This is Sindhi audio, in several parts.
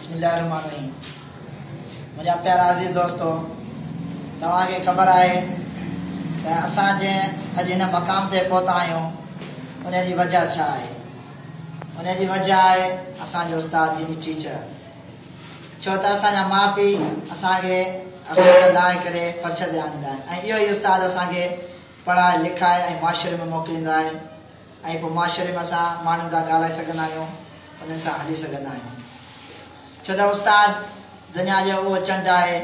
بسم الله الرحمن الرحيم منهنجا پيارا عزيز دوستو توهان کي خبر آهي ته اسان جنهن اڄ هن مقام تي پهتا آهيون ان جي وجه ڇا آهي ان جي وجه آهي اسان جو استاد يعني ٽيچر ڇو ته اسان جا ماء پيء اسان کي ارسال لاهي ڪري فرش تي آڻيندا آهن ۽ اهو ئي استاد اسان کي پڙهائي لکائي ۽ معاشري ۾ موڪليندو آهي ۽ پوء معاشري ۾ اسان ماڻهن سان ڳالهائي سگهندا آهيون، انهن سان هلي سگهندا آهيون. ڇو ته استاد دنيا جو اهو چنڊ آهي،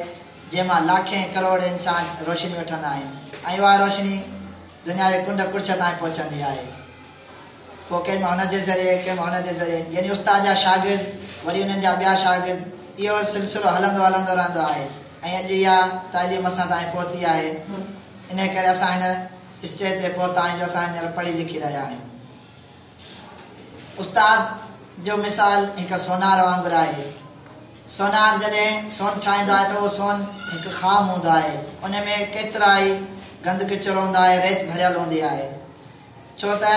جنهن مان لاکين ڪروڙين انسان روشني وٺندا آهن ۽ اها روشني دنيا جي ڪنڊ ڪڙڇ تائين پهچندي آهي. پوء ڪنهن ۾ هن جي ذريعي، ڪنهن ۾ هن جي ذريعي، يعني استاد جا شاگرد، وري انهن جا ٻيا شاگرد، اهو سلسلو هلندو هلندو رهندو آهي ۽ اڄ اها تعليم اسان تائين پهتي آهي. انهيء ڪري اسان هن. اسٽيج تي پهتا آهيون جو اسان هينئر پڙهي لکي رهيا آهيون. استاد جو مثال هڪ سونار وانگر آهي. سونار جڏهن سون ٺاهيندو آهي ته اهو سون هڪ خام هوندو آهي. ان ۾ ڪيترائي گند ڪچر هوندا آهي، ريت ڀريل هوندي آهي. ڇو ته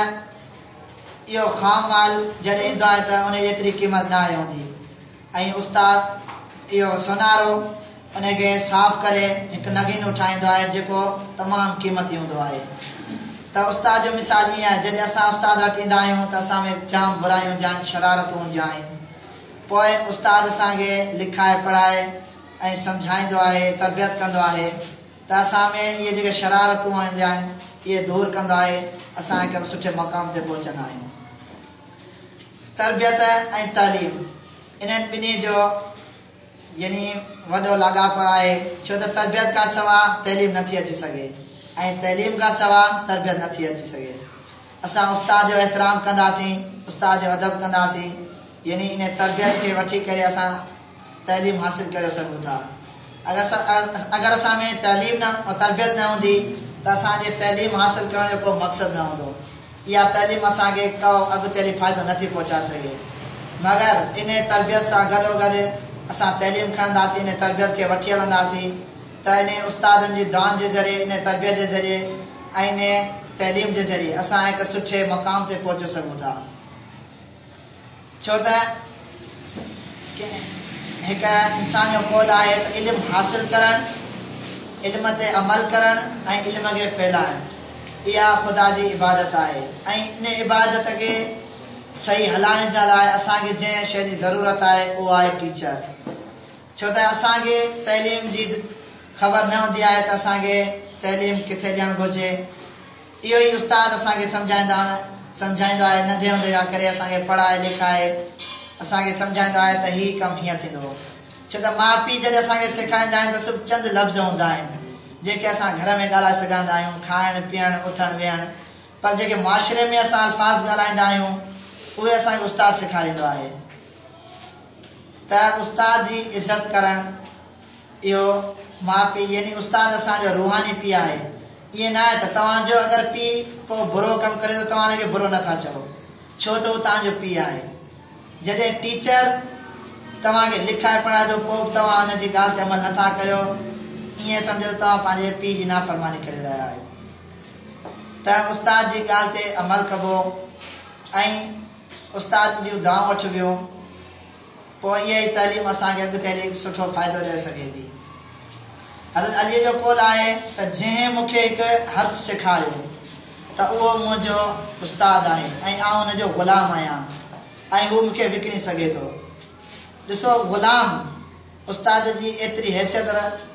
اهو خام مال جڏهن ايندو آهي ته ان جيتري قيمت ناهي هوندي. ۽ استاد اهو سونارو انهي کي صاف ڪري هڪ نگين اٺائيندو آهي جيڪو تمام قيمتي هوندو آهي ته استاد جو مثال ائين آهي جڏهن اسان استاد وٽ ايندا آهيون ته اسان ۾ جام برايون جان شرارتون هونديون آهن پوء استاد اسان کي لکائي پڙهائي ۽ سمجهائيندو آهي تربيت ڪندو آهي ته اسان ۾ اهي جيڪي شرارتون هونديون آهن اهي دور ڪندو آهي اسان هڪ سٺي مقام تي پهچندا آهيون. تربيت ۽ تعليم انهن ٻنهي جو يعني وڏو لاڳاپو آهي ڇو ته تربيت کان سوا تعليم نٿي اچي سگهي ۽ تعليم کان سوا تربيت نٿي اچي سگهي اسان استاد جو احترام ڪنداسين استاد جو ادب ڪنداسين يعني انهي تربيت کي وٺي ڪري اسان تعليم حاصل ڪري سگهون ٿا. اگر اسان ۾ تعليم ۽ تربيت نه هوندي ته اسان جي تعليم حاصل ڪرڻ جو ڪو مقصد نه هوندو. اها تعليم اسان کي ڪو اڳتيلي فائدو نه ٿي پهچائي سگهي. مگر انهيء تربيت سان گڏوگڏ اسان تعليم کڻنداسين، انهيء تربيت کي وٺي هلنداسين ته انهن استادن جي دعائن جي ذريعي، انهيء تربيت جي ذريعي ۽ انهيء تعليم جي ذريعي اسان هڪ سٺي مقام تي پهچي سگهون ٿا. ڇو ته هڪ انسان جو قول آهي ته علم حاصل ڪرڻ، علم تي عمل ڪرڻ ۽ علم کي ڦهلائڻ اها خدا جي عبادت آهي ۽ ان عبادت کي صحيح هلائڻ جي لاء اسان کي جنهن شيء جي ضرورت آهي اهو آهي ٽيچر ڇو ته اسان کي تعليم جي خبر نه هوندي آهي ته اسان کي تعليم ڪٿي ڏيڻ گهرجي. اهو ئي استاد اسان کي سمجهائيندا آهن، سمجهائيندو آهي، ننڍي هوندي کان ڪري اسان کي پڙهائي لکائي اسان کي سمجهائيندو آهي ته هي ڪم هيئن ٿيندو. ڇو ته ماء پيء جڏهن اسان کي سيکاريندا آهن ته صرف چند لفظ هوندا آهن، جيڪي اسان گهر ۾ ڳالهائي سگهاندا آهيون، کائڻ، پيئڻ، اٿڻ، ويهڻ، پر جيڪي معاشري ۾ اسان الفاظ ڳالهائيندا آهيون، اهي اسان کي استاد سيکاريندو آهي ته استاد جي عزت ڪرڻ، اهو ماء پيء يعني استاد اسان جو روحاني پيء آهي. ائين نه آهي ته توهان جو اگر پيء ڪو برو ڪم ڪري ته توهان ان کي برو نه ٿا چئو ڇو ته هو توهان جو پيء آهي. جڏهن ٽيچر توهان کي لکائي پڙهائي ٿو پوء به توهان ان جي ڳالهه تي عمل نه ٿا ڪريو ائين سمجهو ته توهان پنهنجي پيء جي نافرماني ڪري رهيا آهيو. ته استاد جي ڳالهه تي عمل ڪبو ۽ استاد جون دعائون وٺبيون. پوء اها ئي تعليم اسان کي اڳتي هلي سٺو فائدو ڏئي سگهي ٿي. حضرت عليء جو قول آهي ته جنهن مون کي هڪ حرف سيکاريو ته اهو منهنجو استاد آهي ۽ آئون ان جو غلام آهيان ۽ هو مون کي وڪڻي سگهي ٿو. ڏسو غلام استاد جي ايتري حيثيت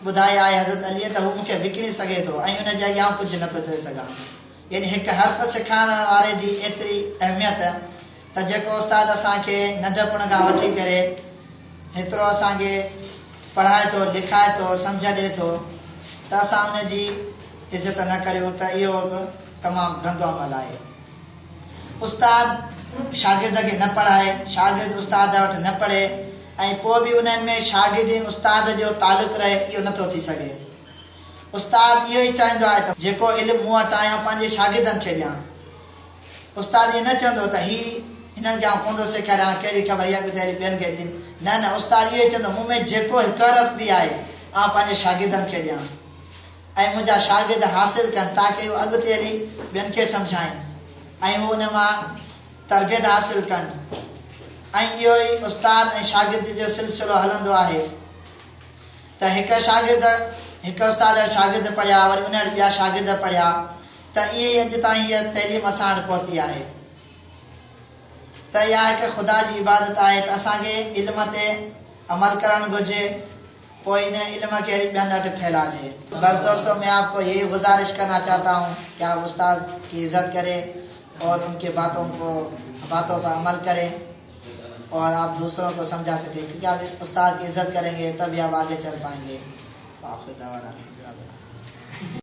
ٻڌائي آهي حضرت عليء ته هو مون کي وڪڻي سگهي ٿو ۽ ان جي اڳيان آئون ڪجهه نه ٿو چئي سگهان. يعني هڪ حرف سيکارڻ واري جي ايتري اهميت ته جيڪو استاد اسان کي ننڍپڻ کان وٺي ڪري هيترو اسان کي پڙهائي ٿو، لکائي ٿو، سمجهه ڏئي ٿو ته اسان ان جي عزت نه ڪريون ته اهو به تمام گندو عمل آهي. استاد شاگرد کي نه پڙهائي، شاگرد استاد وٽ نه پڙهي ۽ پوء به انهن ۾ شاگرد ۽ استاد جو تعلق رهي اهو نه ٿو ٿي سگهي. استاد اهو ئي چاهيندو آهي ته جيڪو علم مون وٽ آهي آئون پنهنجي شاگردن کي ڏيان. استاد ائين نه چوندو ته هي هنن کي آئون ڪوندو سيکاريان، ڪهڙي خبر اها ڳڌيلي ٻين کي ڏين. نه نه استاد اهو ئي چوندو مون ۾ جيڪو هڪ حرف به آهي آئون پنهنجي شاگردن کي ڏيان ۽ منهنجا شاگرد حاصل ڪن تاڪه اهو اڳتي هلي ٻين کي سمجهائين ۽ اهو ان مان تربيت حاصل ڪن ۽ اهو ئي استاد ۽ شاگرد جو سلسلو هلندو آهي ته هڪ شاگرد هڪ استاد شاگرد پڙهيا وري ان ٻيا شاگرد پڙهيا ته ائين ئي اڄ تائين هيء تعليم اسان وٽ پهتي آهي ته اها هڪ خدا جي عبادت آهي ته اسان کي علم تي عمل ڪرڻ گهرجي پوء ان علم کي وري ٻين وٽ ڦهلائجي. بس دوستو مين آپ ڪو يهي گذارش ڪرنا چاهتا هون ڪي آپ استاد ڪي عزت ڪري اور ان ڪي باتون ڪو باتون پر عمل ڪري اور آپ دوسرون ڪو سمجها سڪي ڪيونڪه آپ استاد ڪي عزت ڪرين گي تب هي آپ آگي چل پائين گي واخر دعوانا الحمدلله